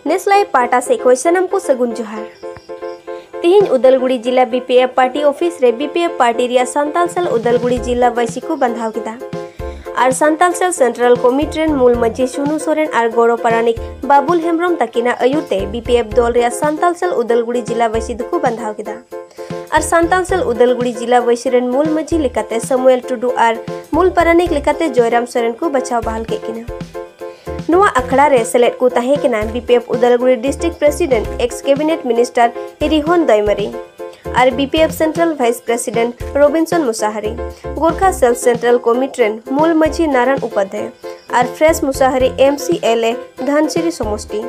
ᱱᱮᱥᱞᱟᱭ ᱯᱟᱴᱟ ᱥᱮ ᱠᱷᱚᱡ ᱥᱟᱱᱟᱢ ᱠᱚ ᱥᱟᱹᱜᱩᱱ ᱡᱚᱦᱟᱨ ᱛᱮᱦᱮᱧ ᱩᱫᱟᱞᱜᱩᱲᱤ ᱡᱤᱞᱟ ᱵᱤᱯᱤᱮᱯ ᱯᱟᱨᱴᱤ ᱚᱯᱷᱤᱥ ᱨᱮ ᱵᱤᱯᱤᱮᱯ ᱯᱟᱨᱴᱤ ᱨᱮᱭᱟᱜ ᱥᱟᱱᱛᱟᱞ ᱥᱮᱞ ᱩᱫᱟᱞᱜᱩᱲᱤ ᱡᱤᱞᱟ ᱵᱟᱹᱭᱥᱤ ᱠᱚ ᱵᱟᱸᱫᱷᱟᱣ ᱠᱮᱫᱟ ᱟᱨ ᱥᱟᱱᱛᱟᱞ ᱥᱮᱞ ᱥᱮᱱᱴᱨᱟᱞ ᱠᱚᱢᱤᱴᱤ ᱨᱮᱱ ᱢᱩᱞ ᱢᱟᱹᱡᱷᱤ ᱥᱩᱱᱩ ᱥᱚᱨᱮᱱ ᱟᱨ ᱜᱚᱲᱚ ᱯᱟᱨᱟᱱᱤᱠ ᱵᱟᱵᱩᱞ ᱦᱮᱢᱵᱨᱚᱢ ᱛᱟᱹᱠᱤᱱᱟᱜ ᱟᱹᱭᱩᱨ ᱛᱮ ᱵᱤᱯᱤᱮᱯ ᱫᱚᱞ ᱨᱮᱭᱟᱜ ᱥᱟᱱᱛᱟᱞ ᱥᱮᱞ ᱩᱫᱟᱞᱜᱩᱲᱤ ᱡᱤᱞᱟ ᱵᱟᱹᱭᱥᱤ ᱫᱚᱠᱚ ᱵᱟᱸᱫᱷᱟᱣ ᱠᱮᱫᱟ ᱟᱨ ᱥᱟᱱᱛᱟᱞ ᱥᱮᱞ ᱩᱫᱟᱞᱜᱩᱲᱤ ᱡᱤᱞᱟ ᱵᱟᱹᱭᱥᱤ ᱨᱮᱱ ᱢᱩᱞ ᱢᱟᱹᱡᱷᱤ ᱞᱮᱠᱟᱛᱮ ᱥᱟᱢᱩᱭᱮᱞ ᱴᱩᱰᱩ ᱟᱨ ᱢᱩᱞ ᱯᱟᱨᱟᱱᱤᱠ ᱞᱮᱠᱟᱛᱮ ᱡᱚᱭᱨᱟᱢ ᱥᱚᱨᱮᱱ ᱠᱚ ᱵᱟᱪᱷᱟᱣ ᱵᱟᱦᱟᱞ ᱠᱮᱫ ᱠᱤᱱᱟ ᱱᱚᱣᱟ ᱟᱠᱷᱲᱟ ᱨᱮ ᱥᱮᱞᱮᱫ ᱠᱚ ᱛᱟᱦᱮᱸ ᱠᱟᱱᱟ BPF Udalguri district president ex cabinet minister ᱦᱤᱨᱤᱦᱚᱱ ᱫᱚᱭᱢᱟᱨᱤ ᱟᱨ BPF central vice president ᱨᱚᱵᱤᱱᱥᱚᱱ Musahari Gorkha cell central committee ᱨᱮᱱ ᱢᱩᱞ ᱢᱟᱹᱡᱷᱤ ᱱᱟᱨᱟᱭᱚᱱ ᱩᱯᱟᱫᱷᱭᱟᱭ ᱟᱨ ᱯᱷᱨᱮᱥ Musahari M C L A Dhansiri ᱥᱚᱢᱚᱥᱴᱤ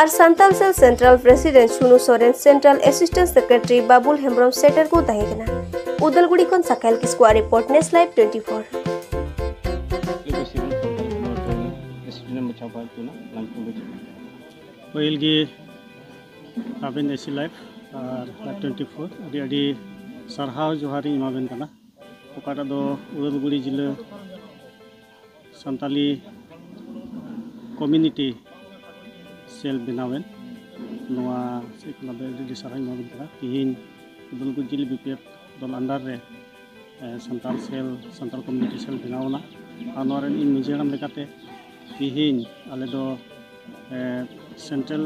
ᱟᱨ Santal cell central president Sunu Soren central assistant secretary Babul Hembrom ᱥᱮᱴᱮᱨ ᱠᱚ ᱛᱟᱦᱮᱸ ᱠᱟᱱᱟ ᱩᱫᱟᱞᱜᱩᱲᱤ ᱠᱷᱚᱱ ᱥᱟᱠᱷᱟᱭᱞ ᱠᱤᱥᱠᱩᱣᱟᱜ ᱨᱤᱯᱳᱨᱴ ᱱᱮᱥ ᱞᱟᱭᱤᱵᱷ ᱴᱩᱭᱮᱱᱴᱤ ᱯᱷᱳᱨ ᱯᱟᱹᱦᱤᱞ ᱜᱮ ᱟᱵᱮᱱ ᱮᱥᱤ ᱞᱟᱭᱤᱯᱷ ᱟᱨ ᱞᱟᱭᱤᱯᱷ ᱴᱩᱭᱮᱱᱴᱤ ᱯᱷᱳᱨ ᱟᱹᱰᱤ ᱟᱹᱰᱤ ᱥᱟᱨᱦᱟᱣ ᱡᱚᱦᱟᱨᱤᱧ ᱮᱢᱟᱵᱮᱱ ᱠᱟᱱᱟ ᱚᱠᱟᱴᱟᱜ ᱫᱚ ᱩᱫᱟᱞᱜᱩᱲᱤ ᱡᱮᱞᱟᱹ ᱥᱟᱱᱛᱟᱞᱤ ᱠᱚᱢᱤᱱᱤᱴᱤ ᱥᱮᱞ ᱵᱮᱱᱟᱣᱮᱱ ᱱᱚᱣᱟ ᱥᱮᱫ ᱠᱷᱚᱱᱟᱜ ᱫᱚ ᱟᱹᱰᱤ ᱟᱹᱰᱤ ᱥᱟᱨᱦᱟᱣᱤᱧ ᱮᱢᱟᱵᱮᱱ ᱠᱟᱱᱟ ᱛᱤᱦᱤᱧ ᱩᱫᱟᱞᱜᱩᱲᱤ ᱡᱮᱞᱟᱹ ᱵᱤ ᱯᱤ ᱮᱯᱷ ᱫᱚᱞ ᱟᱱᱰᱟᱨ ᱨᱮ Santal cell Santal community cell ᱵᱮᱱᱟᱣ ᱮᱱᱟ ᱟᱨ ᱱᱚᱣᱟ ᱨᱮᱱ ᱤᱧ ᱢᱟᱺᱡᱷᱤ ᱦᱟᱲᱟᱢ ᱞᱮᱠᱟᱛᱮ ᱛᱮᱦᱮᱧ ᱟᱞᱮ ᱫᱚ ᱥᱮᱱᱴᱨᱟᱞ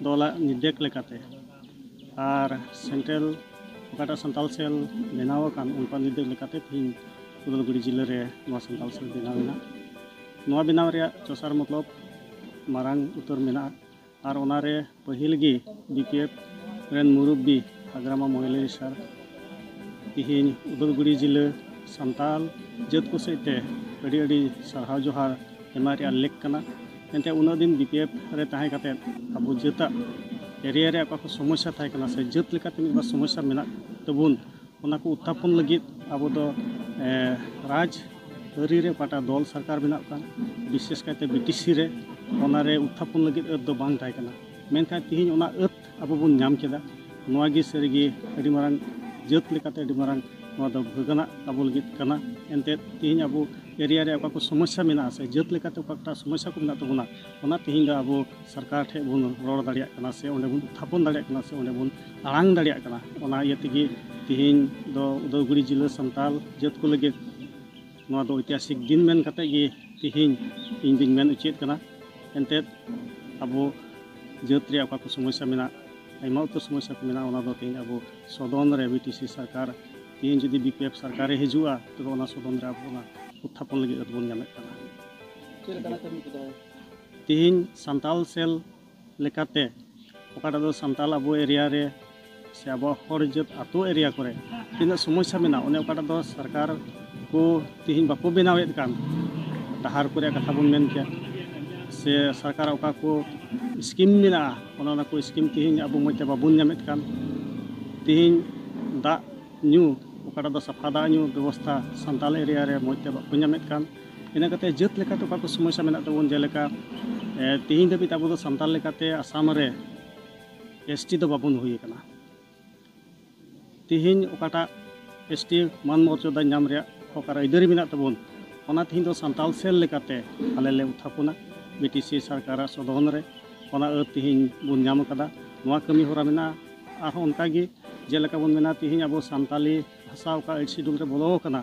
ᱫᱚᱞᱟᱜ ᱱᱤᱨᱫᱮᱥ ᱞᱮᱠᱟᱛᱮ ᱟᱨ ᱥᱮᱱᱴᱨᱟᱞ ᱚᱠᱟᱴᱟᱜ ᱥᱟᱱᱛᱟᱲ ᱥᱮᱞ ᱵᱮᱱᱟᱣ ᱟᱠᱟᱱ ᱚᱱᱠᱟ ᱱᱤᱨᱫᱮᱥ ᱞᱮᱠᱟᱛᱮ ᱛᱮᱦᱮᱧ ᱩᱫᱟᱞᱜᱩᱲᱤ ᱡᱮᱞᱟ ᱨᱮ ᱱᱚᱣᱟ ᱥᱟᱱᱛᱟᱲ ᱥᱮᱞ ᱵᱮᱱᱟᱣ ᱮᱱᱟ ᱱᱚᱣᱟ ᱵᱮᱱᱟᱣ ᱨᱮᱭᱟᱜ ᱛᱮᱥᱟᱨ ᱢᱚᱛᱞᱚᱵ ᱢᱟᱨᱟᱝ ᱩᱛᱟᱹᱨ ᱢᱮᱱᱟᱜᱼᱟ ᱟᱨ ᱚᱱᱟ ᱨᱮ ᱯᱟᱹᱦᱤᱞ ᱜᱮ ᱵᱤ ᱯᱤ ᱮᱯᱷ ᱨᱮᱱ ᱢᱩᱨᱩᱵᱽᱵᱤ ᱦᱟᱜᱽᱨᱟᱢᱟ ᱢᱚᱦᱤᱞᱟᱨᱤ ᱥᱟᱨ ᱛᱮᱦᱮᱧ ᱩᱫᱚᱞᱜᱩᱨᱤ ᱡᱤᱞᱟᱹ ᱥᱟᱱᱛᱟᱲ ᱡᱟᱹᱛ ᱠᱚ ᱥᱮᱫ ᱛᱮ ᱟᱹᱰᱤ ᱟᱹᱰᱤ ᱥᱟᱨᱦᱟᱣ ᱡᱚᱦᱟᱨ ᱮᱢᱟᱜ ᱨᱮᱭᱟᱜ ᱞᱮᱠ ᱠᱟᱱᱟ ᱮᱱᱛᱮ ᱩᱱᱟᱹᱜ ᱫᱤᱱ ᱵᱤ ᱯᱤ ᱮᱯᱷ ᱨᱮ ᱛᱟᱦᱮᱸ ᱠᱟᱛᱮ ᱟᱵᱚ ᱡᱟᱹᱛᱟᱜ ᱮᱨᱤᱭᱟ ᱨᱮ ᱚᱠᱟ ᱠᱚ ᱥᱚᱢᱚᱥᱥᱟ ᱛᱟᱦᱮᱸ ᱠᱟᱱᱟ ᱥᱮ ᱡᱟᱹᱛ ᱞᱮᱠᱟᱛᱮ ᱢᱤᱫ ᱵᱟᱨ ᱥᱚᱢᱚᱥᱥᱟ ᱢᱮᱱᱟᱜ ᱛᱟᱵᱚᱱ ᱚᱱᱟ ᱠᱚ ᱩᱛᱛᱷᱟᱯᱚᱱ ᱞᱟᱹᱜᱤᱫ ᱟᱵᱚ ᱫᱚ ᱨᱟᱡᱽ ᱟᱹᱨᱤ ᱨᱮ ᱚᱠᱟᱴᱟᱜ ᱫᱚᱞ ᱥᱚᱨᱠᱟᱨ ᱵᱮᱱᱟᱜ ᱠᱟᱱ ᱵᱤᱥᱮᱥ ᱠᱟᱭᱛᱮ ᱵᱤᱴᱤᱥᱤ ᱨᱮ ᱚᱱᱟ ᱨᱮ ᱩᱛᱛᱷᱟᱯᱚᱱ ᱞᱟᱹᱜᱤᱫ ᱟᱹᱛ ᱫᱚ ᱵᱟᱝ ᱛᱟᱦᱮᱸ ᱠᱟᱱᱟ ᱢᱮᱱᱠᱷᱟᱱ ᱛᱮᱦᱮᱧ ᱚᱱᱟ ᱟᱹᱛ ᱟᱵᱚ ᱵᱚᱱ ᱧᱟᱢ ᱠᱮᱫᱟ ᱱᱚᱣᱟ ᱜᱮ ᱥᱟᱹᱨᱤ ᱜᱮ ᱟᱹᱰᱤ ᱢᱟᱨᱟᱝ ᱡᱟᱹᱛ ᱞᱮᱠᱟᱛᱮ ᱟᱹᱰᱤ ᱢᱟᱨᱟᱝ ᱱᱚᱣᱟ ᱫᱚ ᱵᱷᱟᱹᱜᱟᱹᱱᱟᱜ ᱟᱵᱚ ᱞᱟᱹᱜᱤᱫ ᱠᱟᱱᱟ ᱮᱱᱛᱮᱫ ᱛᱮᱦᱮᱧ ᱟᱵᱚ ᱮᱨᱤᱭᱟ ᱨᱮ ᱚᱠᱟ ᱠᱚ ᱥᱚᱢᱚᱥᱥᱟ ᱢᱮᱱᱟᱜᱼᱟ ᱥᱮ ᱡᱟᱹᱛ ᱞᱮᱠᱟᱛᱮ ᱚᱠᱟ ᱠᱚᱴᱟᱜ ᱥᱚᱢᱚᱥᱥᱟ ᱠᱚ ᱢᱮᱱᱟᱜ ᱛᱟᱵᱚᱱᱟ ᱚᱱᱟ ᱛᱮᱦᱮᱧ ᱫᱚ ᱟᱵᱚ ᱥᱚᱨᱠᱟᱨ ᱴᱷᱮᱱ ᱵᱚᱱ ᱨᱚᱲ ᱫᱟᱲᱮᱭᱟᱜ ᱠᱟᱱᱟ ᱥᱮ ᱚᱸᱰᱮ ᱵᱚᱱ ᱛᱷᱟᱯᱚᱱ ᱫᱟᱲᱮᱭᱟᱜ ᱠᱟᱱᱟ ᱥᱮ ᱚᱸᱰᱮ ᱵᱚᱱ ᱟᱲᱟᱝ ᱫᱟᱲᱮᱭᱟᱜ ᱠᱟᱱᱟ ᱚᱱᱟ ᱤᱭᱟᱹ ᱛᱮᱜᱮ ᱛᱮᱦᱮᱧ ᱫᱚ ᱩᱫᱚᱭᱜᱩᱨᱤ ᱡᱤᱞᱟᱹ ᱥᱟᱱᱛᱟᱲ ᱡᱟᱹᱛ ᱠᱚ ᱞᱟᱹᱜᱤᱫ ᱱᱚᱣᱟ ᱫᱚ ᱳᱭᱛᱤᱦᱟᱥᱤᱠ ᱫᱤᱱ ᱢᱮᱱ ᱠᱟᱛᱮ ᱜᱮ ᱛᱮᱦᱮᱧ ᱤᱧ ᱫᱚᱧ ᱢᱮᱱ ᱚᱪᱚᱭᱮᱫ ᱠᱟᱱᱟ ᱮᱱᱛᱮᱫ ᱟᱵᱚ ᱡᱟᱹᱛ ᱨᱮᱭᱟᱜ ᱚᱠᱟ ᱠᱚ ᱥᱚᱢᱚᱥᱥᱟ ᱢᱮᱱᱟᱜ ᱟᱭᱢᱟ ᱩᱛᱟᱹᱨ ᱥᱚᱢᱚᱥᱥᱟ ᱠᱚ ᱢᱮᱱᱟᱜᱼᱟ ᱚᱱᱟ ᱫᱚ ᱛᱮᱦᱮᱧ ᱟᱵᱚ ᱥᱚᱫᱚᱱ ᱨᱮ ᱵᱤ ᱴᱤ ᱥᱤ ᱥᱚᱨᱠᱟᱨ ᱛᱮᱦᱮᱧ ᱡᱩᱫᱤ ᱵᱤ ᱯᱤ ᱮᱯᱷ ᱥᱚᱨᱠᱟᱨᱮ ᱦᱤᱡᱩᱜᱼᱟ ᱛᱚᱵᱮ ᱚᱱᱟ ᱥᱚᱫᱚᱱ ᱨᱮ ᱟᱵᱚ ᱚᱱᱟ ᱩᱛᱛᱷᱟᱯᱚᱱ ᱞᱟᱹᱜᱤᱫ ᱟᱫᱚ ᱵᱚᱱ ᱧᱟᱢᱮᱫ ᱠᱟᱱᱟ ᱪᱮᱫ ᱞᱮᱠᱟᱱᱟᱜ ᱠᱟᱹᱢᱤ ᱠᱚᱫᱚ ᱛᱤᱦᱤᱧ ᱥᱟᱱᱛᱟᱞ ᱥᱮᱞ ᱞᱮᱠᱟᱛᱮ ᱚᱠᱟᱴᱟᱜ ᱫᱚ ᱥᱟᱱᱛᱟᱞ ᱟᱵᱚ ᱮᱨᱤᱭᱟ ᱨᱮ ᱥᱮ ᱟᱵᱚᱣᱟᱜ ᱦᱚᱲ ᱡᱟᱹᱛ ᱟᱛᱳ ᱮᱨᱤᱭᱟ ᱠᱚᱨᱮ ᱛᱤᱱᱟᱹᱜ ᱥᱚᱢᱚᱥᱥᱟ ᱢᱮᱱᱟᱜᱼᱟ ᱚᱱᱮ ᱚᱠᱟᱴᱟᱜ ᱫᱚ ᱥᱚᱨᱠᱟᱨ ᱠᱚ ᱛᱤᱦᱤᱧ ᱵᱟᱠᱚ ᱵᱮᱱᱟᱣᱮᱫ ᱠᱟᱱ ᱰᱟᱦᱟᱨ ᱠᱚᱨᱮ ᱠᱟᱛᱷᱟ ᱵᱚᱱ ᱢᱮᱱ ᱠᱮᱫ ᱥᱮ ᱥᱚᱨᱠᱟᱨ ᱚᱠᱟ ᱠᱚ ᱥᱠᱤᱢ ᱢᱮᱱᱟᱜᱼᱟ ᱚᱱᱟ ᱚᱱᱟ ᱠᱚ ᱥᱠᱤᱢ ᱛᱤᱦᱤᱧ ᱟᱵᱚ ᱢᱚᱡᱽ ᱛᱮ ᱵᱟᱵᱚᱱ ᱧᱟᱢᱮᱫ ᱠᱟᱱ ᱛᱤᱦᱤᱧ ᱫᱟᱜ ᱧᱩ ᱚᱠᱟᱴᱟᱜ ᱫᱚ ᱥᱟᱯᱷᱟ ᱫᱟᱜ ᱧᱩ ᱵᱮᱵᱚᱥᱛᱷᱟ ᱥᱟᱱᱛᱟᱞ ᱮᱨᱤᱭᱟ ᱨᱮ ᱢᱚᱡᱽ ᱛᱮ ᱵᱟᱠᱚ ᱧᱟᱢᱮᱫ ᱠᱟᱱ ᱤᱱᱟᱹ ᱠᱟᱛᱮ ᱡᱟᱹᱛ ᱞᱮᱠᱟᱛᱮ ᱚᱠᱟ ᱠᱚ ᱥᱚᱢᱚᱥᱥᱟ ᱢᱮᱱᱟᱜ ᱛᱟᱵᱚᱱ ᱡᱮᱞᱮᱠᱟ ᱛᱮᱦᱮᱧ ᱫᱷᱟᱹᱵᱤᱡ ᱟᱵᱚ ᱫᱚ ᱥᱟᱱᱛᱟᱲ ᱞᱮᱠᱟᱛᱮ ᱟᱥᱟᱢ ᱨᱮ ᱮᱥ ᱴᱤ ᱫᱚ ᱵᱟᱵᱚᱱ ᱦᱩᱭ ᱟᱠᱟᱱᱟ ᱛᱮᱦᱮᱧ ᱚᱠᱟᱴᱟᱜ ᱮᱥ ᱴᱤ ᱢᱟᱱ ᱢᱚᱨᱡᱟᱫᱟ ᱧᱟᱢ ᱨᱮᱭᱟᱜ ᱚᱠᱟᱨᱮ ᱟᱹᱭᱫᱟᱹᱨᱤ ᱢᱮᱱᱟᱜ ᱛᱟᱵᱚᱱ ᱚᱱᱟ ᱛᱮᱦᱮᱧ ᱫᱚ ᱥᱟᱱᱛᱟᱲ ᱥᱮᱞ ᱞᱮᱠᱟᱛᱮ ᱟᱞᱮ ᱞᱮ ᱩᱛᱷᱟᱯᱚᱱᱟ ᱵᱤ ᱴᱤ ᱥᱤ ᱥᱚᱨᱠᱟᱨᱟᱜ ᱥᱚᱫᱚᱱ ᱨᱮ ᱚᱱᱟ ᱟᱹᱨ ᱛᱮᱦᱮᱧ ᱵᱚᱱ ᱧᱟᱢ ᱟᱠᱟᱫᱟ ᱱᱚᱣᱟ ᱠᱟᱹᱢᱤ ᱦᱚᱨᱟ ᱢᱮᱱᱟᱜᱼᱟ ᱟᱨᱦᱚᱸ ᱚᱱᱠᱟᱜᱮ ᱡᱮᱞᱮᱠᱟ ᱵᱚᱱ ᱢᱮᱱᱟ ᱛᱮᱦᱮᱧ ᱟᱵᱚ ᱥᱟᱱᱛᱟᱲᱤ ᱵᱷᱟᱥᱟᱣ ᱟᱠᱟᱫ ᱟᱹᱰᱤ ᱥᱤᱰᱩᱞ ᱨᱮ ᱵᱚᱞᱚ ᱟᱠᱟᱱᱟ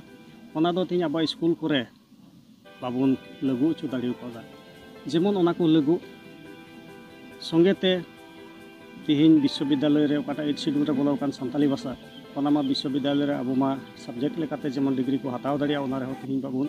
ᱚᱱᱟ ᱫᱚ ᱛᱮᱦᱮᱧ ᱟᱵᱚᱣᱟᱜ ᱥᱠᱩᱞ ᱠᱚᱨᱮ ᱵᱟᱵᱚᱱ ᱞᱟᱹᱜᱩ ᱦᱚᱪᱚ ᱫᱟᱲᱮ ᱠᱟᱣᱫᱟ ᱡᱮᱢᱚᱱ ᱚᱱᱟ ᱠᱚ ᱞᱟᱹᱜᱩ ᱥᱚᱸᱜᱮ ᱛᱮ ᱛᱮᱦᱮᱧ ᱵᱤᱥᱥᱚᱵᱤᱫᱽᱫᱟᱞᱚᱭ ᱨᱮ ᱚᱠᱟᱴᱟᱜ ᱟᱹᱰᱤ ᱥᱤᱰᱩᱞ ᱨᱮ ᱵᱚᱞᱚ ᱟᱠᱟᱱ ᱥᱟᱱᱛᱟᱞᱤ ᱵᱷᱟᱥᱟ ᱚᱱᱟ ᱢᱟ ᱵᱤᱥᱥᱚᱵᱤᱫᱽᱫᱟᱞᱚᱭ ᱨᱮ ᱟᱵᱚ ᱢᱟ ᱥᱟᱵᱽᱡᱮᱠᱴ ᱞᱮᱠᱟᱛᱮ ᱡᱮᱢᱚᱱ ᱰᱤᱜᱽᱨᱤ ᱠᱚ ᱦᱟᱛᱟᱣ ᱫᱟᱲᱮᱭᱟᱜ ᱚᱱᱟ ᱨᱮᱦᱚᱸ ᱛᱮᱦᱮᱧ ᱵᱟᱵᱚᱱ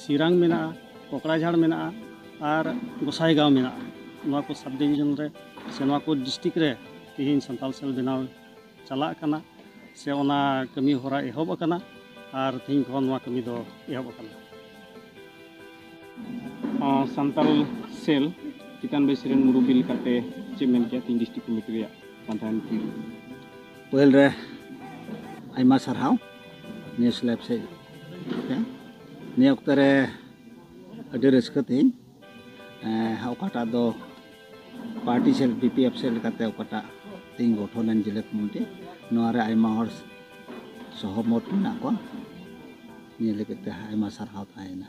ᱥᱤᱨᱟᱝ ᱢᱮᱱᱟᱜᱼᱟ ᱠᱚᱠᱲᱟᱡᱷᱟᱲ ᱢᱮᱱᱟᱜᱼᱟ ᱟᱨ ᱜᱚᱥᱟᱭᱜᱟᱶ ᱢᱮᱱᱟᱜᱼᱟ ᱱᱚᱣᱟ ᱠᱚ ᱥᱟᱵ ᱰᱤᱵᱷᱤᱡᱚᱱ ᱨᱮ ᱥᱮ ᱱᱚᱣᱟ ᱠᱚ ᱰᱤᱥᱴᱤᱠ ᱨᱮ ᱛᱮᱦᱮᱧ ᱥᱟᱱᱛᱟᱲ ᱥᱮᱞ ᱵᱮᱱᱟᱣ ᱪᱟᱞᱟᱜ ᱠᱟᱱᱟ ᱥᱮ ᱚᱱᱟ ᱠᱟᱹᱢᱤ ᱦᱚᱨᱟ ᱮᱦᱚᱵ ᱟᱠᱟᱱᱟ ᱟᱨ ᱛᱮᱦᱮᱧ ᱠᱷᱚᱱ ᱱᱚᱣᱟ ᱠᱟᱹᱢᱤ ᱫᱚ ᱮᱦᱚᱵ ᱟᱠᱟᱱᱟ ᱥᱟᱱᱛᱟᱲ ᱥᱮᱞ ᱪᱮᱛᱟᱱ ᱵᱮᱥ ᱨᱮᱱ ᱢᱩᱨᱩᱵᱤ ᱞᱮᱠᱟᱛᱮ ᱪᱮᱫ ᱢᱮᱱ ᱠᱮᱭᱟ ᱛᱮᱦᱮᱧ ᱰᱤᱥᱴᱨᱤᱠᱴ ᱠᱚᱢᱤᱴᱤ ᱨᱮᱭᱟᱜ ᱯᱟᱱᱛᱷᱟ ᱮᱱᱛᱤ ᱯᱟᱹᱦᱤᱞ ᱨᱮ ᱟᱭᱢᱟ ᱥᱟᱨᱦᱟᱣ ᱱᱤᱭᱟᱹ ᱥᱞᱮᱵ ᱥᱮᱫ ᱱᱤᱭᱟᱹ ᱚᱠᱛᱚ ᱨᱮ ᱟᱹᱰᱤ ᱨᱟᱹᱥᱠᱟᱹ ᱛᱤᱧ ᱚᱠᱟᱴᱟᱜ ᱫᱚ party cell B P F cell ᱞᱮᱠᱟᱛᱮ ᱚᱠᱟᱴᱟᱜ ᱛᱤᱧ ᱜᱚᱴᱷᱚᱱ ᱮᱱ ᱡᱮᱞᱟ ᱠᱚᱢᱤᱴᱤ ᱱᱚᱣᱟ ᱨᱮ ᱟᱭᱢᱟ ᱦᱚᱲ ᱥᱚᱦᱚᱢᱚᱛ ᱢᱮᱱᱟᱜ ᱠᱚᱣᱟ ᱱᱤᱭᱟᱹ ᱞᱟᱹᱜᱤᱫ ᱛᱮ ᱟᱭᱢᱟ ᱥᱟᱨᱦᱟᱣ ᱛᱟᱦᱮᱸᱭᱮᱱᱟ